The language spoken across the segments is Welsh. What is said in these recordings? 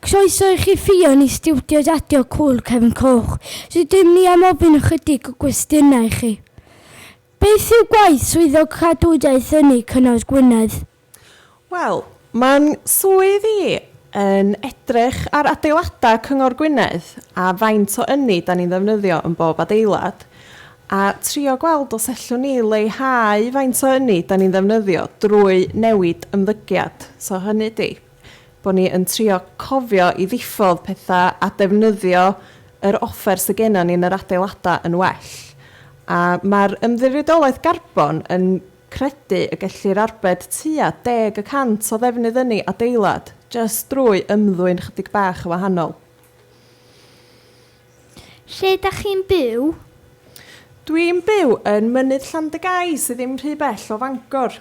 Croeso i chi Ffion i stiwdio Radio Cŵyl Cefn Coch. Rydym ni am ofyn ychydig o gwestiynau i chi. Beth yw gwaith Swyddog Cadwraeth Ynni Cyngor Gwynedd? Wel, mae'n swydd i yn edrych ar adeiladau Cyngor Gwynedd a faint o ynni da ni'n ddefnyddio yn bob adeilad a trio gweld os ellwn ni leihau faint o ynni da ni'n ddefnyddio drwy newid ymddygiad. So hynny ydy. bod ni yn trio cofio i ddiffodd pethau a defnyddio yr offer sydd gennym ni yn yr adeiladau yn well. A mae'r Ymddiriedolaeth Garbon yn credu y gellir arbed tua deg y cant o ddefnydd ynni adeilad jyst drwy ymddwyn chydig bach yn wahanol. Lle da chi'n byw? Dwi'n byw yn Mynydd Llandygai sydd ddim rhy bell o Fangor.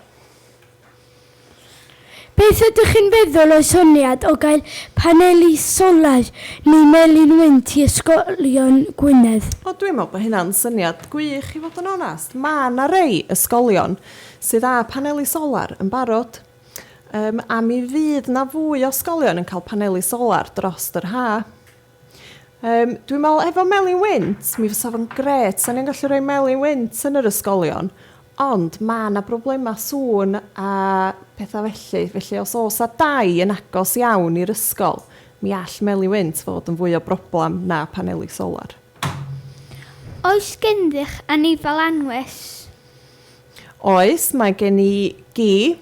Beth ydych chi'n feddwl o'r syniad o gael paneli solar neu melin wynt i ysgolion Gwynedd? O dwi'n meddwl bod hynna'n syniad gwych i fod yn onest. Mae 'na rei ysgolion sydd â paneli solar yn barod yym a mi fydd 'na fwy o ysgolion yn cael paneli solar drost yr haf. Yym, dwi'n meddwl efo Melin Wynt, mi fysa fo'n grêt, 'sa ni'n gallu rhoi Melin Wynt yn yr ysgolion, ond ma' 'na broblemau sŵn a petha felly, felly os oes 'na dai yn agos iawn i'r ysgol, mi all Melin Wynt fod yn fwy o broblem na paneli solar. Oes gennych anifail anwes? Oes, mae gen i gi.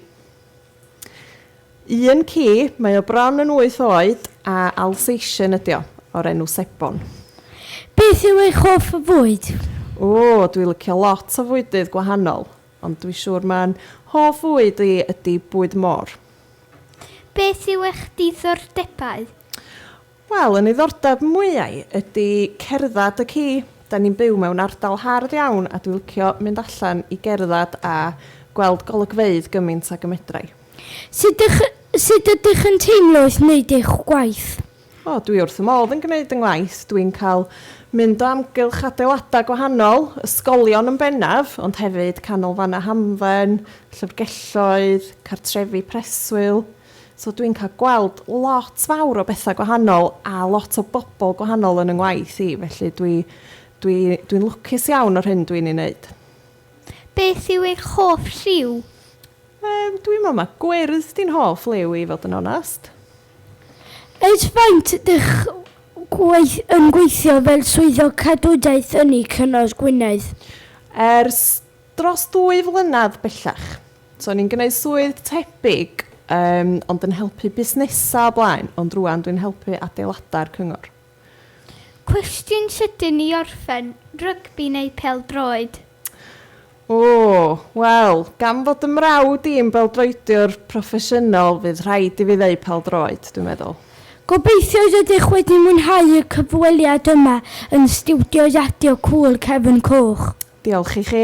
Un ci, mae o bron yn wyth oed a Alsatian ydi o, o'r enw Sebon. Beth yw eich hoff fwyd? O, dwi licio lot o fwydydd gwahanol, ond dwi siŵr ma'n hoff fwyd i ydi bwyd môr. Beth yw eich diddordebau? Wel, y niddordeb mwyau ydi cerdded y ci. Da ni'n byw mewn ardal hardd iawn a dwi licio mynd allan i gerdded a gweld golygfeydd gymint ag y medrai. Sut ych, sut ydych yn teimlo wrth wneud eich gwaith? O, dwi wrth fy modd yn gwneud yng ngwaith. Dwi'n cael mynd o amgylch adeiladau gwahanol, ysgolion yn bennaf, ond hefyd canolfannau hamdden, llyfrgelloedd, cartrefi preswyl. So dwi'n cael gweld lot fawr o bethau gwahanol a lot o bobl gwahanol yn 'y ngwaith i, felly dwi dwi dwi'n lwcus iawn o'r hyn dwi'n ei wneud. Beth yw eich hoff lliw? Yym, dwi'n meddwl mae gwyrdd 'di'n hoff liw i i fod yn onest. Ers faint dych gweith- yn gweithio fel swyddog cadwraeth ynni Cyngor Gwynedd? Ers Dros ddwy flynedd bellach. So o'n i'n gwneud swydd tebyg yym ond yn helpu busnesau o blaen, ond rŵan dwi'n helpu adeiladau'r cyngor. Cwestiwn sydyn i orffen, rygbi neu pêl-droed? O, wel, gan fod 'y mrawd i'n bêl-droediwr proffesiynol fydd rhaid i fi ddeud pêl-droed, dwi'n meddwl. Gobeithio rydych wedi mwynhau y cyfweliad yma yn stiwdio Radio Cŵyl Cefn Coch. Diolch i chi.